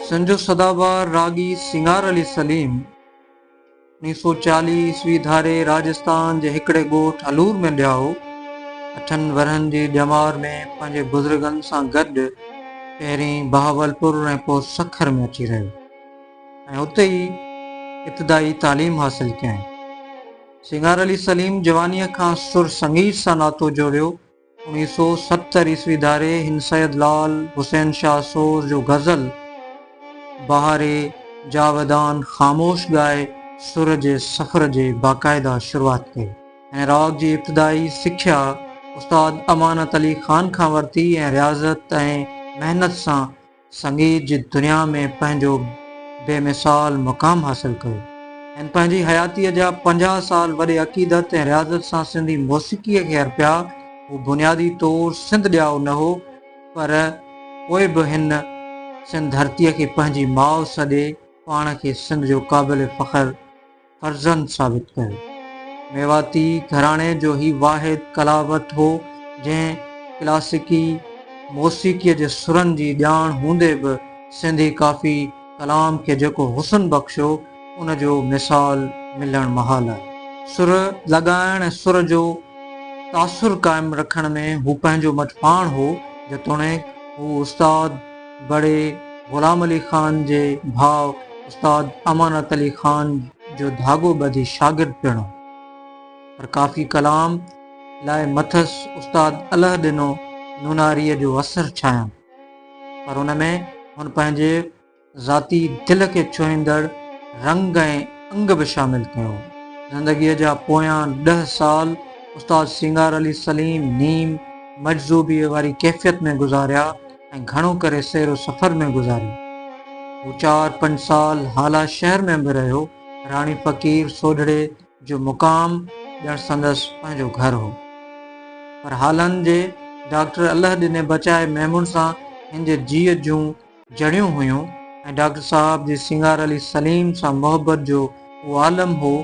سنڌ جو سدابار راڳي سينگار علي سليم اوڻيھ سئو چاليھ عيسوي ڌاري راجستان جي هڪڙي ڳوٺ الور ۾ ڄائو. اٺن ورهن جي ڄمار ۾ پنهنجي بزرگن سان گڏ پهرين بهاولپور ۽ پوء سکر ۾ اچي رهيو ۽ اتي ئي ابتدائي تعليم حاصل ڪيائين. سنگار علي سليم جوانيء کان سر سنگيت سان ناتو جوڙيو. اوڻيهه سؤ ستر عيسوي ڌاري هن سيد لعل حسين شاهه سور جو غزل بهاري جاويدان خاموش ڳائي سر جي سفر جي باقاعده شروعات ڪئي. هن راڳ جي ابتدائي سکيا استاد امانت علي خان کان ورتي ۽ رياضت ۽ محنت سان سنگيت جي دنيا ۾ پنهنجو بي مثال مقام حاصل ڪيو. هن پنهنجي حياتيء جا پنجاهه سال وڏي عقيدت ۽ رياضت سان سنڌي موسيقيء کي ارپيا. هو بنيادي طور سنڌ ڄائو نه هو، پر پوء به هن سنڌ ڌرتيء کي پنهنجي ماء سڏي، پاڻ کي سنڌ جو قابل فخر فرزند ثابت ڪيو. ميواتي گهراڻي جو هي واحد ڪلاوت هو، جنهن ڪلاسيڪي موسيقيء جي سرن جي ڄاڻ هوندي به سنڌي ڪافي ڪلام کي جيڪو حسن بخشيو، ان جو مثال ملڻ محال آهي. سر لڳائڻ ۽ سر جو تاثر قائم رکڻ ۾ هو پنهنجو مٽ پاڻ هو، جيتوڻيڪ هو استاد. بڙي غلام علي خان جي ڀاء استاد امانت علي خان جو ڌاڳو ٻڌي شاگرد پڻ هو پر ڪافي ڪلام لاء مٿس استاد اله ڏنو نوناريء جو اثر ڇانيم پر ان ۾ هن پنهنجي ذاتي دل کي ڇهيندڙ رنگ ۽ انگ به شامل ڪيو هو. زندگيء جا پويان ڏهه سال استاد سينگار علي سليم نيم مجذوبيء واري ڪيفيت ۾ گذاريا. ۽ گهڻو ڪري سير و سفر ۾ گذاري. هو چار پنج سال هالا شهر ۾ به رهيو. راڻي فقير سوڍڙي جو مقام ڄڻ سندس پنهنجو گهر هو. پر هالن جي ڊاڪٽر الله ڏني بچائي ميمڻ سان هن جي جيء جون جڙيون هيون ۽ ڊاڪٽر صاحب جي سينگار علي سليم سان محبت جو اهو عالم هو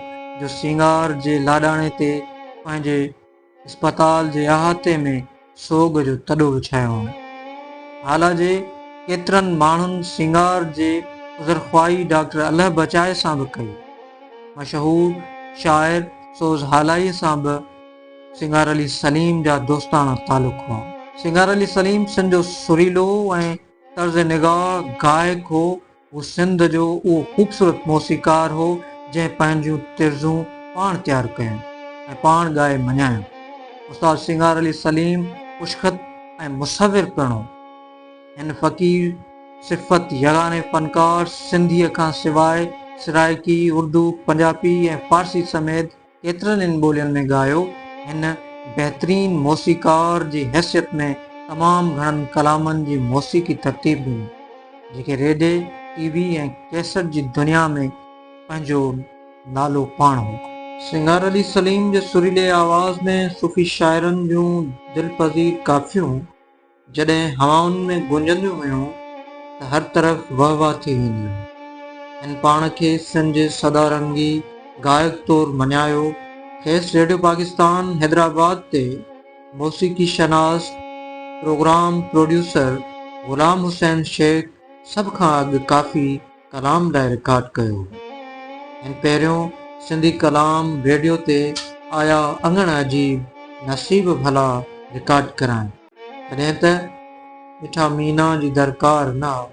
جو سينگار جي لاڏاڻي تي پنهنجي اسپتال جي احاطي ۾ سوڳ جو تڏو وڇايو هئائون. هالا جي ڪيترن ماڻهن سينگار جي عذرخواهي ڊاڪٽر الهه بچائي سان به ڪئي. مشهور شاعر سوز هالائيء سان به سينگار علي سليم جا دوستاڻا تعلق هئا. سينگار علي سليم سن جو سريلو ۽ طرز نگار گائڪ هو. هو سنڌ جو اهو خوبصورت موسيقار هو، جنهن پنهنجون طرزون پاڻ تيار ڪيون ۽ پاڻ ڳائي مڃايون. استاد سينگار علي سليم خوشخط ۽ مصور پڻ هو. هن فقير صفت يگاني فنڪار سنڌيء کان سواء سرائيڪي، اردو، پنجاپي ۽ فارسي سميت، ڪيترن ئي ٻولين ۾ ڳايو. هن بهترين موسيقار جي حيثيت ۾ تمام گهڻن ڪلامن جي موسيقي ترتيب ڏني، جيڪي ريڊي، ٽي وي ۽ ڪيسٽ جي دنيا ۾ پنهنجو نالو پاڻ هو. سنگار علي سليم جي سريلي آواز ۾ صوفي شاعرن جون دلپذير ڪافيون، جڏهن هوائن ۾ گونجنديون هيون ته هر طرف وهه وهه ٿي ويندي هئي. هن پاڻ کي سن جي سدا رنگي گائڪ طور مڃايو. کيس ريڊيو پاڪستان حيدرآباد تي موسيقي شناس، پروگرام پروڊيوسر غلام حسين شيخ سڀ کان اڳ ڪافي ڪلام لاء رڪارڊ ڪيو هو. هن پهريون سنڌي ڪلام ريڊيو تي آيا اڱڻ عجيب، نصيب ڀلا رڪارڊ ڪرايائين. ريت مٺا مينا جي درڪار نه آ.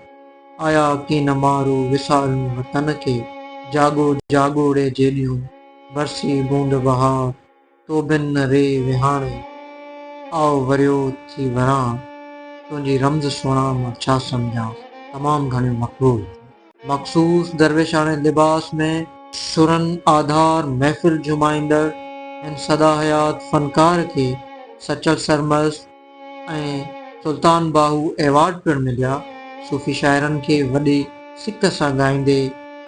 آيا ڪين مارو وسارون وطن کي. جاڳو جاڳو ري جيڏيون، برسي بوند بهار. تو بن نه ري وهاڻي، آء وريو ٿي وران. تنهنجي رمز سهڻا مان ڇا سمجهان. تمام گهڻيون مقبول ٿيون. مخصوص درويشاڻي لباس ۾ سرن آڌار محفل جهومائيندڙ هن سداحيات فنڪار کي سچل سرمست ۽ سلطان باهو ايوارڊ پڻ مليا. صوفي شاعرن کي وڏي سڪ سان ڳائيندي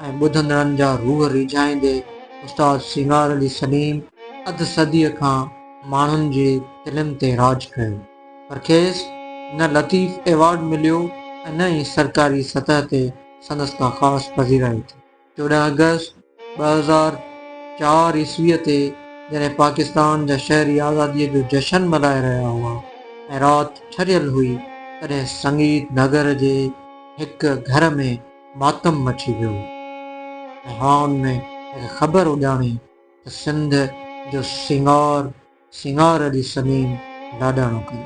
۽ ٻڌندڙن جا روح ريجهائيندي استاد سينگار علي سليم اڌ صديء کان ماڻهن جي دلين تي راڄ ڪيو. پر کيس نه لطيف ايوارڊ مليو ۽ نه ئي سرڪاري سطح تي سندس ڪا خاص پذيرائي ٿي. چوڏهن آگسٽ ٻه هزار چار عيسويء تي جڏهن پاڪستان جا شهري آزاديء جو جشن ملهائي رهيا هئا ۽ رات ٺريل هئي، تڏهن سنگيت نگر جي هڪ گهر ۾ ماتم مچي ويو ۽ هائون ۾ هڪ خبر اڏامي ته سنڌ جو سينگار، سنگهار جي سمين لاڏاڻو ڪيو.